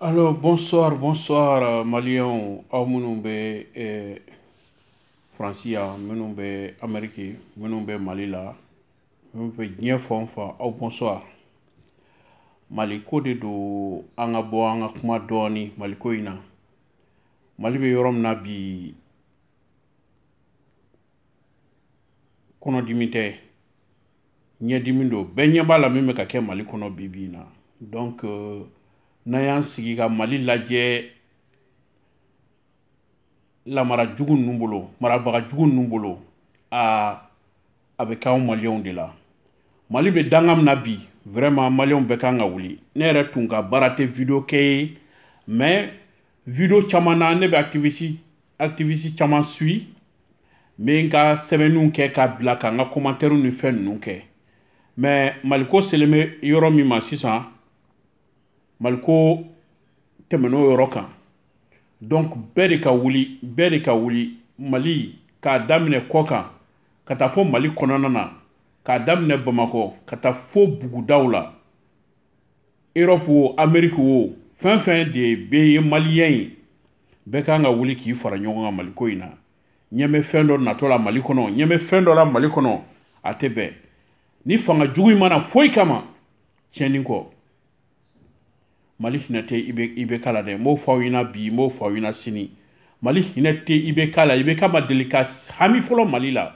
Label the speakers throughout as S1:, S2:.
S1: Alors bonsoir, bonsoir euh, Maliens, aw minnu bɛ eh, Faransi yan, minnu bɛ Amérique, minnu bɛ Mali la, minnu bɛ diɲɛ fan o fan, aw bonsoir. Mali ko de don an ka bɔ an ka kuma dɔɔni Mali ko in na. Mali bɛ yɔrɔ min na bi kɔnɔdimi tɛ, ɲɛdimi don bɛɛ ɲɛ b'a la min bɛ ka kɛ mali kɔnɔ bi bi in na donc euh, n'an y'an sigi ka mali lajɛ lamara jugu ninnu bolo marabaga jugu ninnu bolo a a bɛ k'anw maliyɛnw de la mali bɛ danga min na bi vraiment maliyɛnw bɛɛ kan ka wuli ne yɛrɛ tun ka baara tɛ video kɛ ye mais video caman na ne bɛ activiste activiste caman suivi n bɛ n ka sɛbɛnniw kɛ k'a bila ka n ka kɔmantɛriw ni fɛn ninnu kɛ mais maliko selen bɛ yɔrɔ min ma sisan maliko tɛmɛn'o yɔrɔ kan donc bɛɛ de ka wuli bɛɛ de ka wuli mali k'a daminɛ kɔkan ka taa fo mali kɔnɔna na k'a daminɛ bamakɔ ka taa fo bugudaw la Europe wo Amérique wo fɛn fɛn de bɛ ye maliyɛn ye bɛɛ kan ka wuli k'i fara ɲɔgɔn kan maliko in na ɲɛ bɛ fɛn dɔ natɔ la mali kɔnɔ ɲɛ bɛ fɛn dɔ la mali kɔnɔ a tɛ bɛn nin fanga jugu in ma na foyi kama tiɲɛni kɔ mali hinɛ tɛ IB IBK la dɛ n b'o fɔ aw ɲɛna bi n b'o fɔ aw ɲɛna sini mali hinɛ tɛ IBK la IBK ma deli ka hami fɔlɔ mali la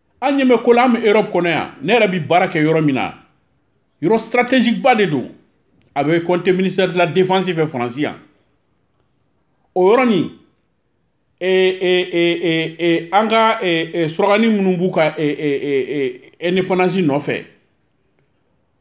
S1: an ɲɛ bɛ ko la an bɛ europe kɔnɔ yan ne yɛrɛ bɛ baara kɛ yɔrɔ min na yɔrɔ stratégique ba de don a bɛ compter ministère de la défense fɛ faransi yan o yɔrɔ nin an ka surakani minnu b'u ka indépendance nɔfɛ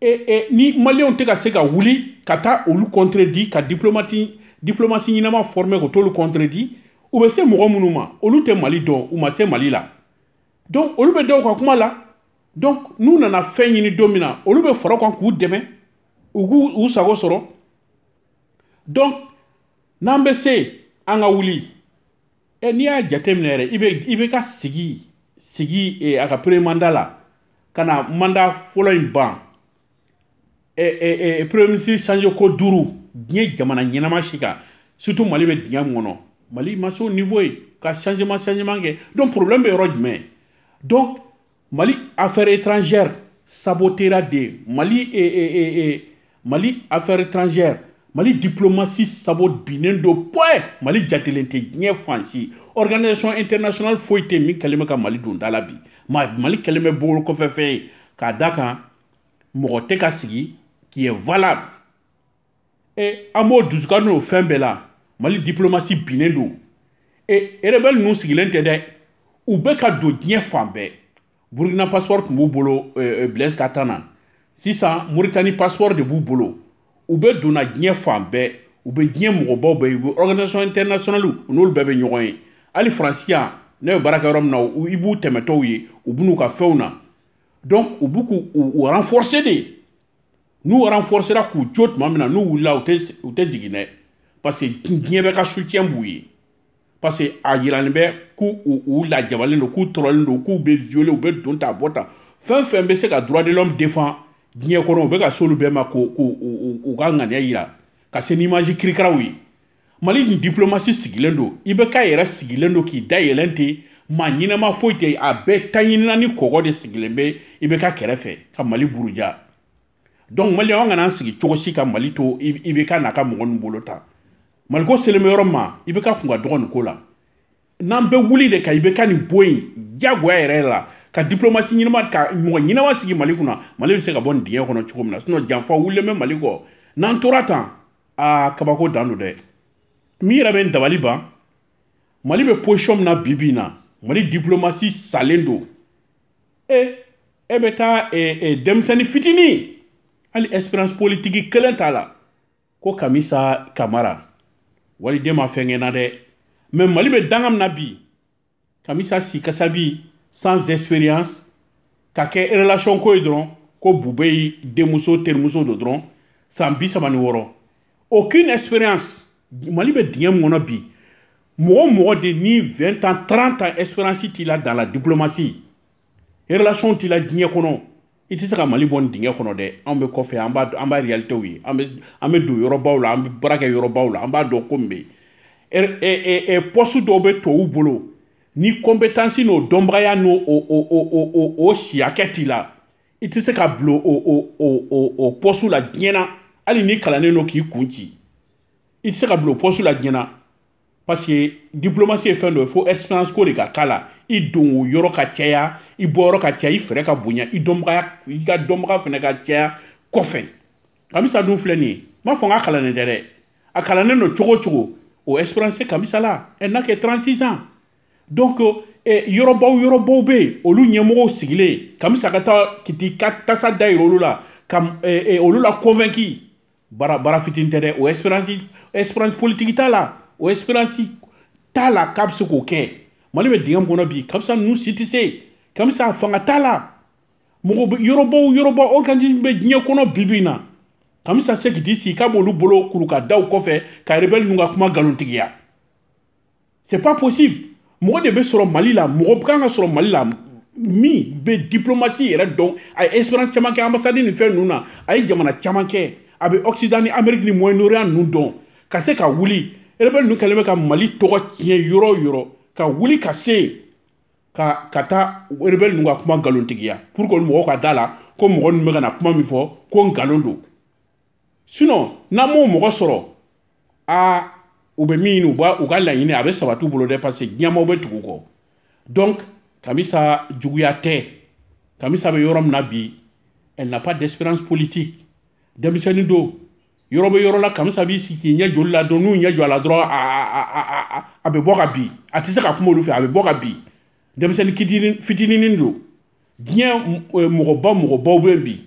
S1: e, e, ni maliyɛnw tɛ ka se ka wuli ka taa olu kɔntredi ka diplomati diplomasi ɲɛnama fɔrme ko t'olu kɔntredi u bɛ se mɔgɔ minnu ma olu tɛ mali dɔn u ma se mali la donc olu bɛ da u ka kuma la donc n'u nana fɛn ɲini don min na olu bɛ fara u kan k'u dɛmɛ u k'u u sago sɔrɔ donc n'an bɛ se an ka wuli ɛ n'i y'a jateminɛ yɛrɛ IB IBK sigi sigi e, a ka premier manda la ka na manda fɔlɔ in ban ɛ ɛ ɛ premier ministre changer ko duuru diɲɛ jamana ɲɛnama si kan surtout mali bɛ dingɛ min kɔnɔ mali ma se o niveau ye ka changement changement kɛ donc problème bɛ yɔrɔ jumɛn donc mali affaire étrangère sabotera de mali e, e, e, e, mali affaire étrangère mali diplomatie sabo binnen don point mali jatelen tɛ diɲɛ fan si organisation internationale foyi tɛ min kɛlen bɛ ka mali don da la bi mali kɛlen bɛ bolokɔfɛfɛn ye k'a da kan mɔgɔ tɛ ka sigi qui est valable e an b'o dusuka n'o fɛn bɛɛ la mali diplomasi binnen don e erebɛli ninnu sigilen tɛ dɛ u bɛ ka don diɲɛ fan bɛɛ burukina passeport tun b'u bolo eh, eh, blaise ka temps na sisan moritani passeport de b'u bolo u bɛ donna diɲɛ fan bɛɛ u bɛ diɲɛ mɔgɔbaw bɛɛ u bɛ organisation internationale u n'olu bɛɛ bɛ ɲɔgɔn ye hali faransi yan ne bɛ baara kɛ yɔrɔ min na i b'u tɛmɛtɔw ye u bɛ n'u ka fɛnw na donc u bɛ k'u u renforcer de n'u renforcera k'u jɔ tuma min na n'u wulila u tɛ jigin dɛ parce que diɲɛ bɛɛ ka soutien b'u ye parce que a yiralen bɛ k'u u lajabalen don k'u tɔrɔlen don k'u bɛ violer u bɛ don ta bɔ ta fɛn fɛn bɛ se ka droit de l'homme défend diɲɛ kɔnɔ u bɛ ka s'olu bɛɛ ma k'u k'u u ka ŋaniya yira ka se n'image kirikaraw ye mali nin diplomasi sigilen don ibk yɛrɛ sigilen don k'i da yɛlɛn ten maa ɲɛnama foyi tɛ a bɛɛ taɲinina ni kɔgɔ de sigilen bɛ ibk kɛrɛfɛ ka mali buruja donc mali an kana an sigi cogo si ka mali to ibk n'a ka mɔgɔ ninnu bolo tan maliko selen bɛ yɔrɔ ma ibk kun ka dɔgɔ nin ko la n'an bɛ wuli de ka ibk nin bɔ yen diyagoya yɛrɛ la ka diplomasi ɲɛnama ka mɔgɔ ɲɛnama sigi mali kunna mali bɛ se ka bɔ nin dingɛ kɔnɔ cogo min na sinɔn janfa wulilen bɛ mali kɔ n'an tora tan aa kabako dan don dɛ min yɛrɛ bɛ n dabali ban mali bɛ position min na bi bi in na mali diplomasi salen don e e bɛ taa e, e, denmisɛnnin fitinin hali expérience politiki kelen t'a la ko kamisa kamara waliden ma fɛn kɛ n na dɛ mais mali bɛ danga min na bi kamisa si kasabi sans expérience ka kɛ relation ko ye dɔrɔn ko boubèye denmuso terimuso don dɔrɔn san bi saba ni wɔɔrɔ aucune expérience mali bɛ dingɛ min kɔnɔ bi mɔgɔ o mɔgɔ de ni 20 ans 30 ans expérience t'i la dans la diplomatie relation t'i la diɲɛ kɔnɔ i tɛ se ka mali bɔ nin dingɛ kɔnɔ dɛ anw bɛ kɔfɛ an b'a an b'a réalitéw ye an bɛ an bɛ don yɔrɔbaw la an bɛ baara kɛ yɔrɔbaw la an b'a dɔn ko min bɛ yen pɔsu dɔw bɛ tubabuw bolo ni compétence n'o dɔnbagaya n'o o o o o o o si hakɛ t'i la i tɛ se ka bila o o o o o pɔsu la diɲɛ na hali n'i kalannen don k'i kun ci i tɛ se ka bila o pɔsu la diɲɛ na parce que diplomasi ye fɛn dɔ ye fo expérience ko de ka k'a la i donyɔrɔ ka caya i bɔyɔrɔ ka caya i fɛɛrɛ ka bonya i dɔnbagaya i ka dɔnbaga fɛnɛ ka caya kɔfɛ kamisa dun filɛ nin ye n b'a fɔ n k'a kalannen tɛ dɛ a kalannen don cogo cogo o expérience kamisa la elle n'a que 36 ans donc eh, yɔrɔbaw yɔrɔbaw bɛ yen olu ɲɛmɔgɔw sigilen kamisa ka taa k'i ka tasa dayira olu la ka eh, eh, olu la convaincu baara baara fitinin tɛ dɛ o expérience expérience politique t'a la o expérience t'a la k'a bɛ se k'o kɛ mali bɛ dingɛ min kɔnɔ bi kamisa ninnu si tɛ se kamisa fanga t'a la mɔgɔ yɔrɔbaw yɔrɔbaw organisme bɛ diɲɛ kɔnɔ bi bi in na kamisa se k'i sigi k'a b'olu bolo kuru ka da u kɔfɛ ka rebɛli ninnu ka kuma nkalontigiya c'est pas possible mɔgɔ de bɛ sɔrɔ mali la mɔgɔ kan ka sɔrɔ mali la min bɛ diplomasi yɛrɛ dɔn a ye expérience caman kɛ ambassade ni fɛn ninnu na a ye jamana caman kɛ a bɛ occident ni amérique ni moyen orient ninnu dɔn ka se ka wuli rebelle ninnu kɛlen bɛ ka mali tɔgɔ tiɲɛ yɔrɔ o yɔrɔ ka wuli ka se yen ka ka taa rebelle ninnu ka kuma nkalontigiya pour que mɔgɔw ka da la ko mɔgɔ ninnu bɛ ka na kuma min fɔ ko nkalon don sinon n'an m'o mɔgɔ sɔrɔ aa u bɛ min ɲini u b'a u ka laɲini a bɛ sabati u bolo dɛ parce que diɲɛmaaw bɛ tugu u kɔ donc kamisa juguya tɛ kamisa bɛ yɔrɔ min na bi elle n'a pas d'expérience politique denmisɛnnin don yɔrɔ bɛ yɔrɔ la kamisa b'i sigi k'i ɲɛ jɔ olu la dɔrɔn n'u ɲɛ jɔ a la dɔrɔn a bɛ bɔ ka bin a tɛ se ka kuma olu fɛ a bɛ bɔ ka bin denmisɛnnin fitinin don diɲɛ mɔgɔba mɔgɔbaw bɛ bi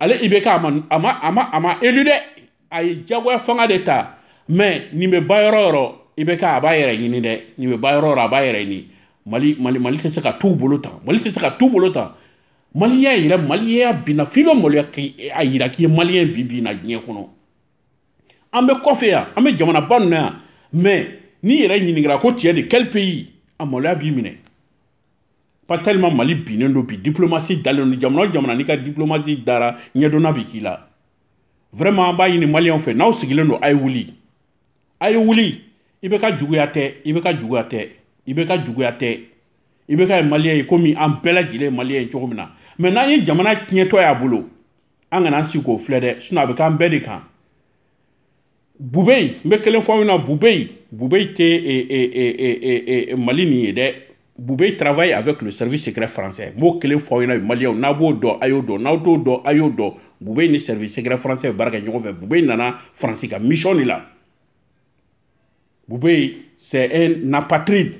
S1: ale ibk a ma a ma a ma a ma élu dɛ a ye jagoya fanga de ta mɛ nin bɛ ba yɔrɔ yɔrɔ ibk a b'a yɛrɛ ɲini dɛ nin bɛ ba yɔrɔ yɔrɔ a b'a yɛrɛ ɲini mali mali mali tɛ se ka t'u bolo tan mali tɛ se ka t'u bolo tan maliya yɛrɛ maliya binna f'i bɛ maloya k'a yira k'i ye maliyɛn ye bi bi in na diɲɛ kɔnɔ an bɛ kɔfɛ yan an bɛ jamanaba ninnu na mɛ n'i yɛrɛ ɲininkara ko tu es de quel pays a maloya b'i minɛ pas tellement mali binnen don bi diplomasi dalen don jamana o jamana n'i ka diplomasi dara ɲɛdonna bi k'i la vraiment an b'a ɲini maliyɛnw fɛ n'aw sigilen don a ye wuli a ye wuli ibk juguya tɛ ibk juguya tɛ ibk juguya tɛ ibk ye maliyɛn ye komi an bɛɛ lajɛlen ye maliyɛn ye cogo min na mɛ n'an ye jamana tiɲɛtɔ y'a bolo an kana an sigi k'o filɛ dɛ sinon a bɛ k'an bɛɛ de kan bubei n bɛ kelen fɔ aw ɲɛna bubei bubei tɛ eh, eh, eh, mali ɲin ye dɛ bubei travaille avec le service secret français n b'o kelen fɔ aw ɲɛna maliyɛnw n'aw b'o dɔn a y'o dɔn n'aw t'o dɔn a y'o dɔn bubei ni service secret français bɛ baara kɛ ɲɔgɔn fɛ bubei nana faransi ka mission de la bubei c'est un apatride n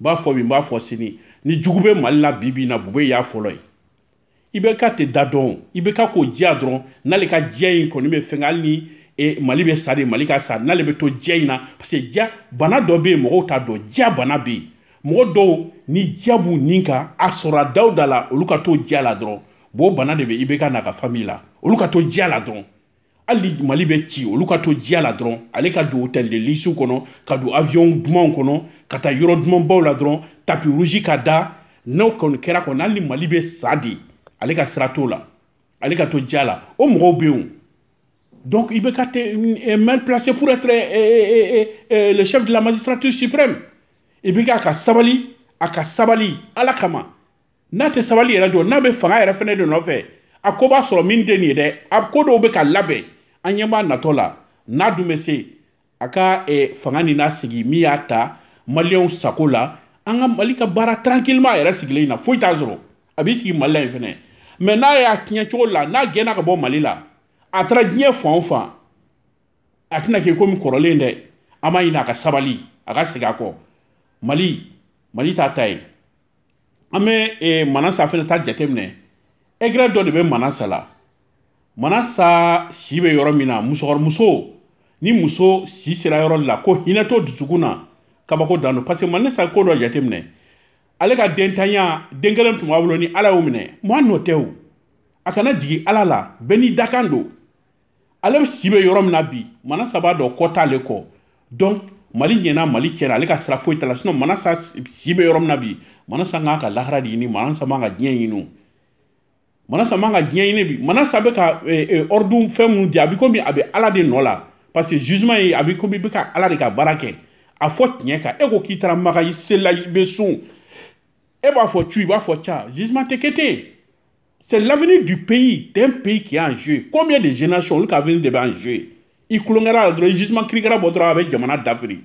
S1: b'a fɔ bi n b'a fɔ sini ni jugu bɛ mali la bi bi in na bubei y'a fɔlɔ ye IBK tɛ da dɔn IBK ko diya dɔrɔn n'ale ka diya in kɔni bɛ fɛn hali ni e, mali bɛ sa de mali ka sa n'ale bɛ to diya in na parce que diya bana dɔ bɛ yen mɔgɔw t'a dɔn diya bana bɛ yen mɔgɔ dɔw ni diya b'u ni kan a sɔrɔ a daw da la olu ka to diya la dɔrɔn bon o bana de bɛ IBK n'a ka famille la olu ka to diya la dɔrɔn hali ni mali bɛ ci olu ka to diya la dɔrɔn ale ka don hôtel de luxe kɔnɔ ka don avion dumanw kɔnɔ ka taa yɔrɔ dumanbaw la dɔrɔn tapis rouge ka da n'o kɔni kɛra kɔni hali ni mali bɛ sa de ale ka sira t'o la ale ka to diya la o mɔgɔw bɛ yen donc IBK est très mal placé pour être eh, eh, le chef de la magistrature suprême IBK ka sabali a ka sabali ala kama n'a tɛ sabali yɛrɛ don n'a bɛ fanga yɛrɛ fɛnɛ de nɔfɛ a ko b'a sɔrɔ min tɛ nin ye dɛ a ko dɔw bɛ ka labɛn an ɲɛ b'a natɔ la n'a dun bɛ se a ka eh, fanga ni n'a sigi min y'a ta maliyɛnw sago la an ka mali ka baara tranquillement a yɛrɛ sigilen in na foyi t'a sɔrɔ a b'i sigi mali la yen fɛnɛ mɛ n'a y'a tiɲɛ cogo la n'a gɛnna ka bɔ mali la a taara diɲɛ fan o fan a tɛna kɛ komi kɔrɔlen dɛ an b'a ɲini a ka sabali a ka segin a kɔ mali mali t'a ta ye an bɛ eh, manasa fɛnɛ ta jateminɛ aigreur dɔ de bɛ manasa la manasa si bɛ yɔrɔ min na musokɔrɔmuso ni muso si sera yɔrɔ la ko hinɛ t'o dusukun na kabako dan don parce que manasa ko dɔ jateminɛ ale ka dentanya den kelen tun b'a bolo ni ala y'o minɛ mɔgɔ nɔ tɛ o a kana jigin ala la bɛɛ n'i dakan don ale si bɛ yɔrɔ min na bi manasa b'a dɔn kɔ t'ale kɔ donc mali ɲɛna mali cɛna ale ka sira foyi t'a la sinon manasa si bɛ yɔrɔ min na bi manasa kan ka lahara de ɲini manasa man ka diɲɛ ɲini manasa man ka diɲɛ ɲini bi manasa bɛ ka ɔridun eh, eh, fɛn minnu di a bɛ komi a bɛ ala de nɔ la parce que jugement ye a bɛ komi i bɛ ka ala de ka baara kɛ a fɔ tiɲɛ kan e ko k'i taara makan i selila i bɛ sun e b'a fɔ cu i b'a fɔ ca jugement tɛ kɛ ten C'est l'avenir du pays, d'un pays qui est en jeu. Combien de générations, olu avenir de bɛ en jeu I kulongara dɔrɔn jugement kirikara bɔ dɔrɔn a bɛ jamana dafiri.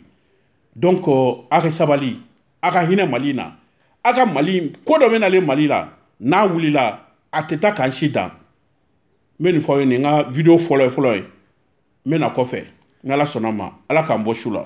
S1: Donc euh, a ka sabali, a ka hinɛ Mali na. A ka Mali, ko dɔ bɛ nalen Mali la, n'a wulila, a tɛ taa k'an si dan. N bɛ nin fɔ aw ye ne ka video fɔlɔ ye fɔlɔ ye. N bɛ na kɔfɛ, n'Ala sɔnna ma, Ala k'an bɔ su la.